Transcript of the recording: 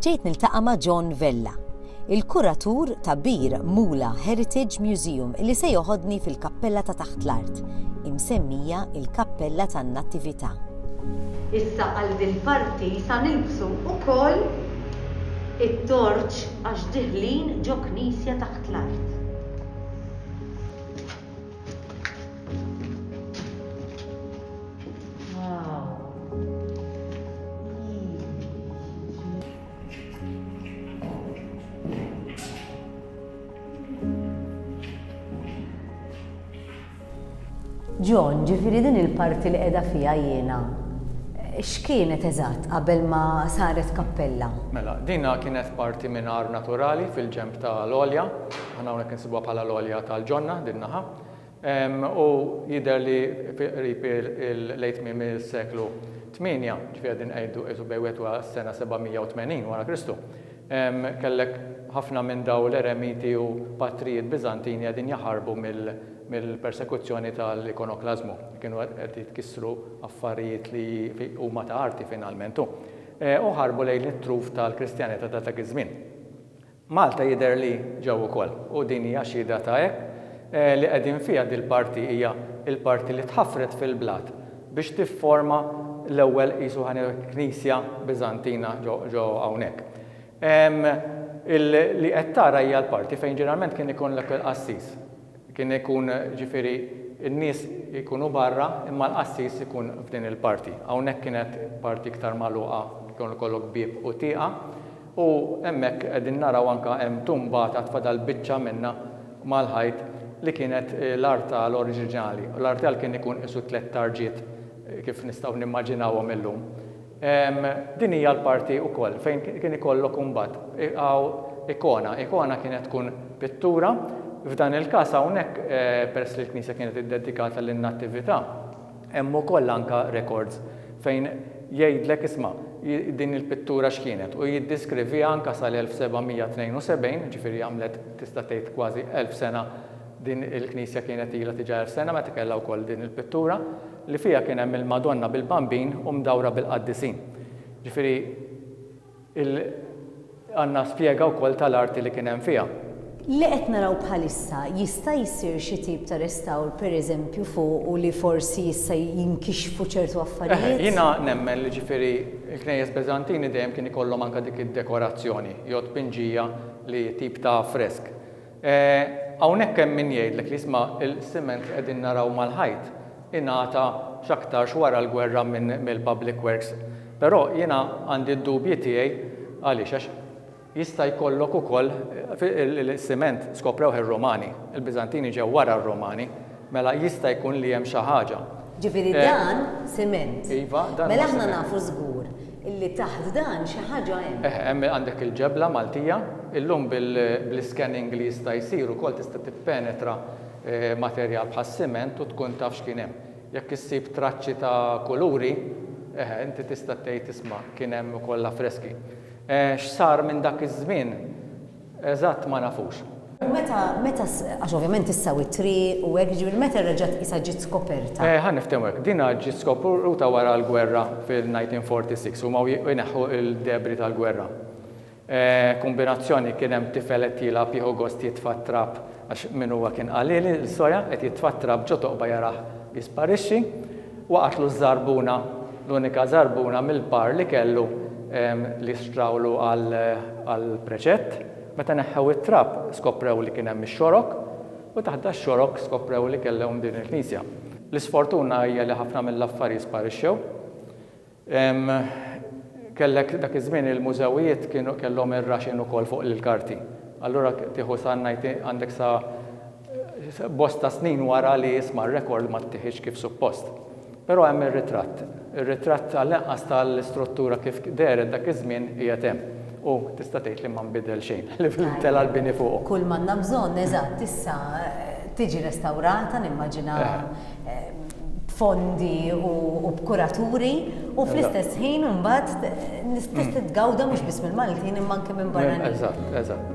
Ġejt niltaqa' ma' John Vella, il-kuratur ta' Bir Mula Heritage Museum li se joħodni fil-kappella ta' taħt l-art, imsemmija il-Kappella tan-Nattività. Issa għal dil-parti sa nilbsu ukoll it-torċ għax diħlin ġo knisja taħt l-art. John, ġifiri din il-parti li qiegħda fiha jiena. X'kienet eżatt qabel ma saret kappella? Mela, dina kienet parti minn għar naturali fil-ġenb ta' l-għolja. Aħna hawnhekk insibuha bħala l-għolja tal-ġonna din naħa. U jidher li qrib lejn tmiem is-seklu 8, ġifieri qegħdin ngħidu qisu bejn wieħed u s-sena 780 wara Kristu, kellek ħafna minn dawn l-eremiti u patrijiet Biżantini qegħdin jaħarbu mill-persekuzzjoni tal-ikonoklażmu. Kienu qed jitkissru affarijiet li huma ta' arti finalment u ħarbu lejn it-truf tal-Kristjanità ta' dak iż-żmien. Malta jidher li ġew ukoll u din hija xhieda ta' hekk li qegħdin fiha dil-parti hija l-parti li tħaffret fil-blat biex tifforma l-ewwel qisu ħa ngħidu hekk knisja Biżantina ġo hawnhekk. Li qed tara hija l-parti fejn ġeneralment kien ikun l-ewwel qassis. Kien ikun, ġifieri, in-nies ikunu barra imma l-qassis ikun f'din il-parti. Hawnhekk kienet parti iktar magħluqa, kien ikollok bieb u tieqa, u hemmhekk qegħdin naraw anke hemm tumba t'għad fadal biċċa minnha mal-ħajt li kienet l-artal oriġinali. L-artal kien ikun qisu tliet tarġiet kif nistgħu nimmaġinawhom illum. Din hija l-parti wkoll fejn kien ikollok imbagħad hawn ikona. Ikona kienet tkun pittura. F'dan il-każ hawnhekk peress li l-knisja kienet iddedikata lin-Nattività, hemm ukoll anke rekords fejn jgħidlek isma' din il-pittura x'kienet u jiddiskriviha anke sal-1772, jiġifieri għamlet tista' tgħid kważi elf sena din il-knisja kienet ilha tiġa elf sena meta kellha wkoll din il-pittura. li fiha kien hemm il-Madonna bil-Bambin u mdawra bil-qaddisin. Ġifieri il għandna spjega wkoll tal-arti li kien hemm fiha. Li qed naraw bħalissa, jista' jsir xi tip ta' restawr pereżempju fuq u li forsi jista' jinkixfu ċertu affarijiet? Eħe, jiena nemmen li ġifieri l-knejjes Beżantini dejjem kien ikollhom anke dik id-dekorazzjoni jew tpinġija li tip ta' fresk. Hawnhekk hemm min jgħidlek li isma' l-siment li qegħdin naraw mal-ħajt ingħata x'aktarx wara l-gwerra mill-Public Works. Però jiena għandi d-dubji tiegħi għaliex għax jista' jkollok ukoll is-siment skoprewh ir-Rumani, il-Biżantini ġew wara r-Rumani. Mela jista' jkun li hemm xi ħaġa. Ġifieri dan siment. Iva, dan huwa siment. Mela aħna nafu żgur li taħt dan xi ħaġa hemm. Eħe, hemm għandek il-ġebla Maltija. Illum bl-iscanning li jista' jsir ukoll tista' tippenetra materjal bħas-siment u tkun taf x'kien hemm. Jekk issib traċċi ta' kuluri, eħe, inti tista' tgħid isma' kien hemm ukoll l-affreski. X'sar minn dak iż-żmien? Eżatt ma nafux. U meta, meta, għax ovvjament issa u t-triq u hekk, jiġifieri meta reġgħet tqisha ġiet skoperta? Eh, ħa niftehmu hekk, dinha ġiet skopruta wara l-gwerra fil-1946, huma wiequ jneħħu l-debri tal-gwerra. Eh, kumbinazzjoni kien hemm tifel qed jilgħab jieħu gost jitfa' t-trab, għax min huwa kien qalili, il-soja, qed jitfa' t-trab ġo toqba jarah jisparixxi. Waqatlu ż-żarbuna, l-unika żarbuna mill-par li kellu li xtrawlu għall-preċett. Meta neħħew it-trab skoprew li kien hemm ix-xorok u taħt dax-xorok skoprew li kellhom din il-knisja. L-isfortuna hija li ħafna mill-affarji sparixxew. Kellek dak iż-żmien il-mużewijiet kienu kellhom ir-raxen ukoll fuq l-karti. Allura tieħu sa ngħid għandek sa bosta snin wara li isma' r-rekord ma ttiħidx kif suppost. Però hemm ir-ritratt. Ir-ritratt għall-inqas tal-istruttura kif dehret dak iż-żmien qiegħed hemm. U tista' tgħid li ma nbidel xejn, li fil-tela' l-bini fuqu. Kull m'għandna bżonn, eżatt, issa tiġi restawrata, nimmaġina, b'fondi u b'kuraturi, u fl-istess ħin imbagħad tista' titgawda mhux biss mill-Maltin imma anke minn barranin. Eżatt, eżatt.